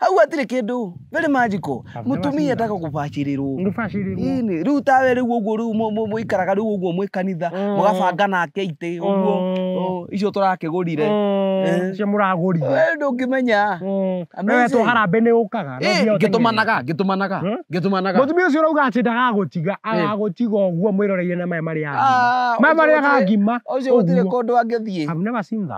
hau hatirĩ kĩndũ very magical I've never mũtumia seen etaka kũbacĩrĩrwo Ngũbacĩrĩrwo. Ĩnĩ, rĩu tawe rĩu ũguo rĩu mũ- mũ- mũikaraga rĩu ũguo mwĩ kanitha Mm. mũgabanga nake itĩ ũguo Mm. oh, icio tũrakĩgũrire Mm, Eh. cio mũragũrire Wee ndũngĩmenya Mm. Amazing. Wewe to harambĩ nĩ ũkaga no Eh, nginya ũteng'ere. ngĩtũmanaga ngĩtũmanaga Hmm? ngĩtũmanaga mũtumia ũcio ũrauga atĩ ndagagũtiga agagũtiga ũguo mwĩroreire na maya marĩa Ah, agima maya ũcio marĩa gũtirĩ- agima ũcio gũtirĩ ũguo. kũndũ angĩthiĩ I've never seen that.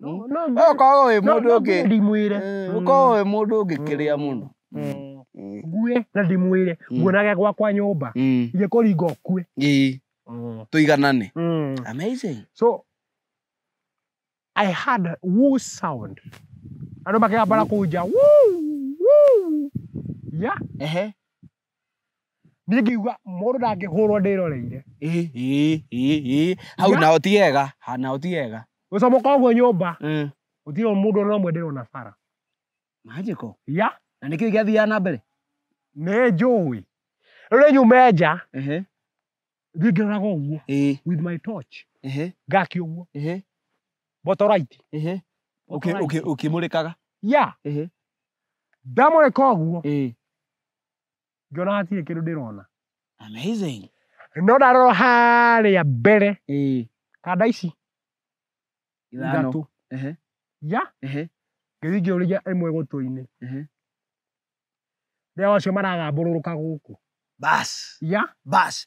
No, Mm. no, Wewe ũkoragwo wĩ no, mũndũ no, ũngĩ ndimwĩre Mm. ũkoragwo wĩ mũndũ ũngĩ kĩrĩa mũno Mm. Mm. ngue na ndimwĩre Mm. nguonage gwakwa nyũmba Mm. ingĩkũringa ũkue Ii, tũiganane Mm. amazing so i had a woo sound andå makegambara kå nja woo, woo. ya ehe Niĩ ngiuga mũndũ ndangĩhũrwo ndĩroreire. Ĩ, ĩ, ĩ, ĩ. Hau Nga- naho ti hega, ha naho ti hega. Gũcomoka ũguo nyũmba, Mm. gũtirĩ mũndũ ona ũmwe ndĩrona bara. Manjĩko. Ya, Na nĩkĩo gĩathiaga na mbere. nĩ njũĩ. Rĩu nĩ nyume nja, Ehe. thiĩ ngĩroraga ũguo Ĩ, with my torch. ehe, Ngaki ũguo. ehe, Botoraiti. ehe. Ũkĩ- ũkĩ- Ũkĩmũrĩkaga. Ya, Ehe. ndamũrĩka ũguo, Ĩ. ngĩona hatirĩ kĩndũ ndĩrona Amazing. no ndarora harĩa mbere Ĩĩ. kanda ici Ithano. ithatũ Ehe. ya Ehe. ngĩthiĩ ngĩũrĩria ĩmwe gũtũ-inĩ Ehe. rĩrĩa wacio maragambũrũrũka gũkũ Bas. ya Bas.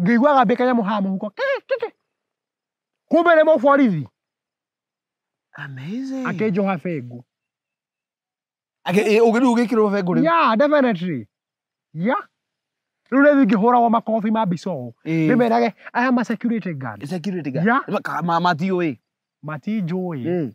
ngĩigua gambĩ kanyamũ haha mũhuko kĩ- kĩ- kĩ. kumbe nĩ mũborithi Amazing. akĩnjoha bengu Ake- ĩ, ũgĩ- rĩu ũgĩkĩrwo bengo rĩu ya definitely ya rĩu rĩu ingĩhũragwo makobi ma bicoo Ĩ. ndĩmerage aya ma security guard Security guard. Ya. Ma- ka- ma- matiũĩ matinjũĩ Ĩ.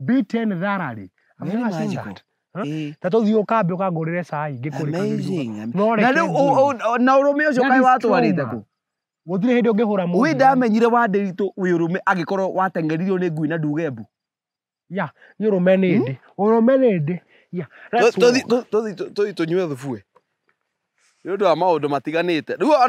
beaten thoroughly. I'm Very not saying magical. that. Huh? Eh. Ta tũthiĩ ũkambe ũkangũrĩre cai ngĩkũrĩka Amazing. Am- No reke na rĩu ngũrũ. ũ- ũ- ũ- na ũrũme ũcio That kaĩ is watwarĩte trauma. kũ Gũtirĩ hĩndĩ ũngĩhũra mũndũ. wĩ ndamenyire wa ndĩritũ wĩ ũrũme angĩkorwo wateng'eririo nĩ ngui na nduge mbu Ya, nĩ ũrũme nĩ ndĩ. Ũrũme nĩ ndĩ. Ya, let's walk. tũthiĩ tũnyue thubue nĩ ũndũ wa maũndũ matiganĩte rĩu